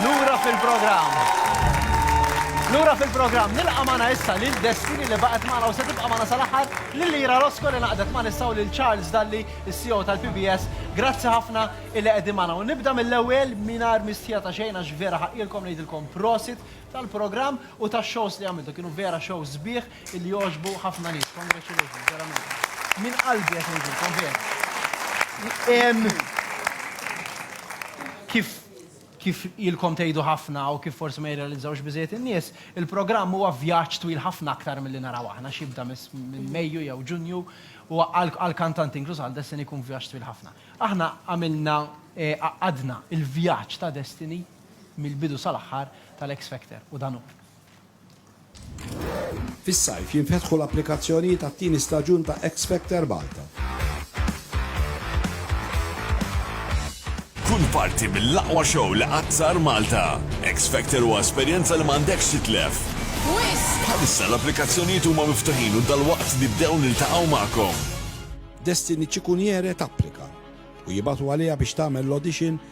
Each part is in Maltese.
Lura fil-programm. Lura fil-programm nilqa' magħna issa lil Destiny li baqgħet magħna u se tibqa' magħna sal-aħħar lil Ira Rosco li naqdet ma' nissa u lil Charles Dalli, is-CEO tal-PBS. Grazzi ħafna illi qegħdin magħna. U nibda mill-ewwel mingħajr mistħija ta' xejn għax vera ħaqqielkom ngħidilkom prosit tal-programm u tax-shows li għamiltu. Kienu vera shows sbieħ. Illi jogħġbu ħafna nies. Congratulations, verament. Minn qalbi qed ngħidilkom vera. Kif kif ilkom tgħidu ħafna u kif forsi ma jirrealizzawx biżejjed in-nies, il-programm huwa vjaġġ twil ħafna aktar milli naraw aħna x'jibda minn Mejju jew Ġunju u għall-kantanti inkluż għal Destiny jkun vjaġġ twil ħafna. Aħna għamilna għaqqadna l-vjaġġ ta' Destiny mill-bidu sal-aħħar tal-X Factor u dan hu. Fis-sajf jinfetħu l-applikazzjonijiet għat-tieni staġun ta' X-Factor Malta. Kun parti mill-aqwa show li qatt sar Malta. X-Factor huwa esperjenza li m'għandekx titlef. Bħalissa l-applikazzjonijiet huma miftuħin u dalwaqt nibdew niltaqgħu magħkom. Destiny Cicuniere tapplika u jibgħatu għaliha biex tagħmel l-audition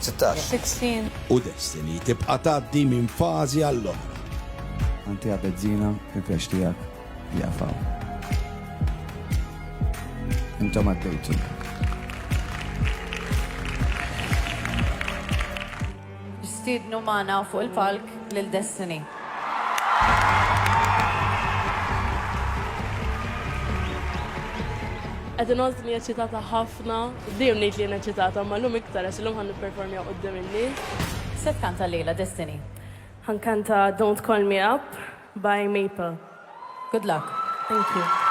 16. 16. U Destiny tibqa' tgħaddi minn fażi għall-oħra. Antiha Bezzina, il-pjaċ tiegħek jieqaf hawn. Intom għaddejtu. Nistiednu magħna fuq il-palk lil Destiny. Qed inħossni eċċitata ħafna. ħafna. Dejjem ngħid li jien eċċitata imma llum iktar għax illum ħa nipperformja quddiem in-nies. X'se tkanta llejla Destiny? Ħa nkanta Don't Call Me Up by Maple. Good luck. Thank you.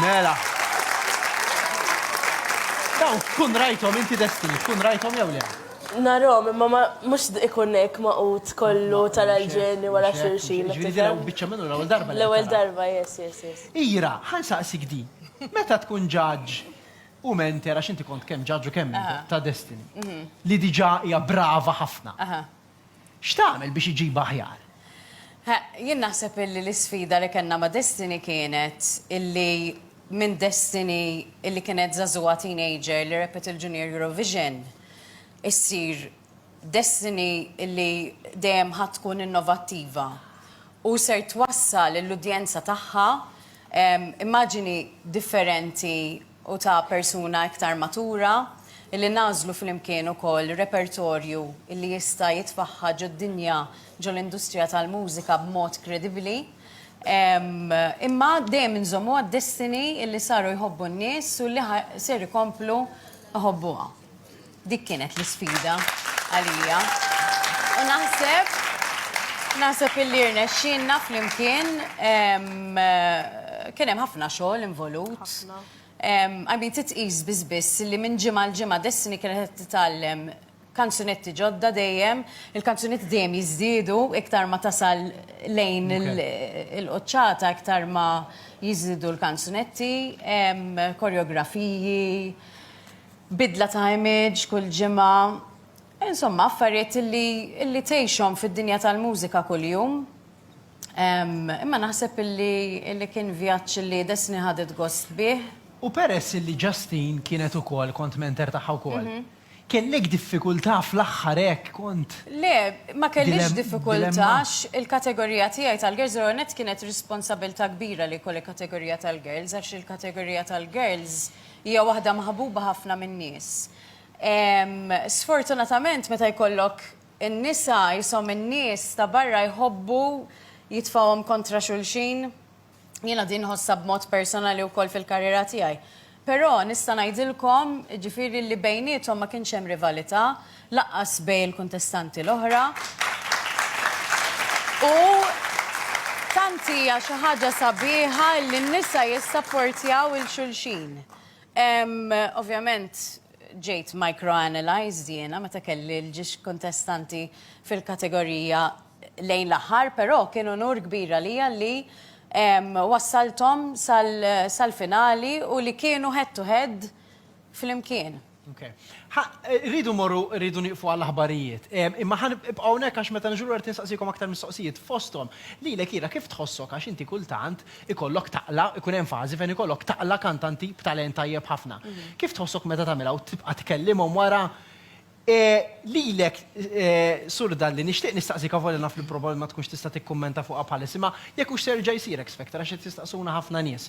Mela. Daw, tkun rajtom inti destini, tkun rajtom jew le? Narom, imma ma mux ikun hekk maqut kollu tal-ġeni wara xulxin. Ġifieri daw biċċa minnu l-ewwel darba. L-ewwel darba, yes, yes, yes. Ira, ħan saqsik di. Meta tkun ġaġġ u menter għax inti kont kemm ġaġġ u kemm ta' destini. Mhm. Li diġà hija brava ħafna. Aha. X'tagħmel biex iġibha aħjar? Jien naħseb illi l-isfida li kellna ma' Destiny kienet illi minn Destiny illi kienet żagħżugħa teenager li rebħet il-Junior Eurovision issir Destiny illi dejjem ħa tkun innovattiva u ser twassal lill-udjenza tagħha immaġini differenti u ta' persuna iktar matura, li nagħżlu flimkien ukoll repertorju li jista' jitfaħħa ġod-dinja, ġol-industrija tal-mużika b'mod kredibbli. Imma dejjem inżommuha d-destiny li saru jħobbu n-nies u li ser ikomplu jħobbuha. Dik kienet l-isfida għalija. U naħseb naħseb illi rnexxinna flimkien kien hemm ħafna xogħol involut. Għabi titqis biss biss li minn ġimgħa l-ġimgħa Destiny kienet titgħallem kanzunetti ġodda dejjem, il-kanzunetti dejjem jiżdiedu iktar ma tasal lejn il-qoċċata iktar ma jiżdiedu l-kanzunetti, koreografiji. bidla ta' image kull ġimgħa, insomma affarijiet illi illi tgħixhom fid-dinja tal-mużika kuljum. Imma naħseb illi illi kien vjaġġ illi Destiny ħadet gost bih. U peress illi Justine kienet ukoll, kont mentor tagħha wkoll, kellek diffikultà fl-aħħar hekk kont? Le, ma kellix diffikultà għax il-kategorija tiegħi tal-girls l-ewwel nett kienet responsabilità kbira li jkolli kategorija tal-girls għax il-kategorija tal-girls Hija waħda maħbuba ħafna min-nies. Sfortunatament meta jkollok in-nisa qishom in-nies ta' barra jħobbu jitfgħuhom kontra xulxin. Jiena din nħossha b'mod personali wkoll fil-karriera tiegħi. Però nista' ngħidilkom, jiġifieri li bejniethom ma kienx hemm rivalità, Lanqas bejn il-kuntestanti l-oħra. U tant hija xi ħaġa sabiħa li n-nisa jissapportjaw 'il xulxin. Ovvjament ġejt micro-analyzed jiena meta kelli l-ġiex kuntestanti fil-kategorija lejn l-aħħar, però kien unur kbir għalija li wassalthom sal-finali u li kienu head to head flimkien. Ok. Ħa, rridu mmorru, rridu nieqfu għall-aħbarijiet. Em, Imma ħan ibqgħu hawnhekk għax meta niġu lura qed nistaqsikom aktar mistoqsijiet fosthom. Lilek ira kif tħossok għax inti kultant ikollok taqla, ikun hemm fażi fejn ikollok taqla kantanti b'talent tajjeb ħafna. Kif tħossok meta tagħmilha u tibqa' tkellimhom wara? E, Lilek, e, Sur Dalli, nixtieq nistaqsik avolja naf li probabilment ma tkunx tista' tikkummenta fuqha bħalissa, imma jekk hux se jerġa' jsir X Factor għax qed jistaqsuna ħafna nies.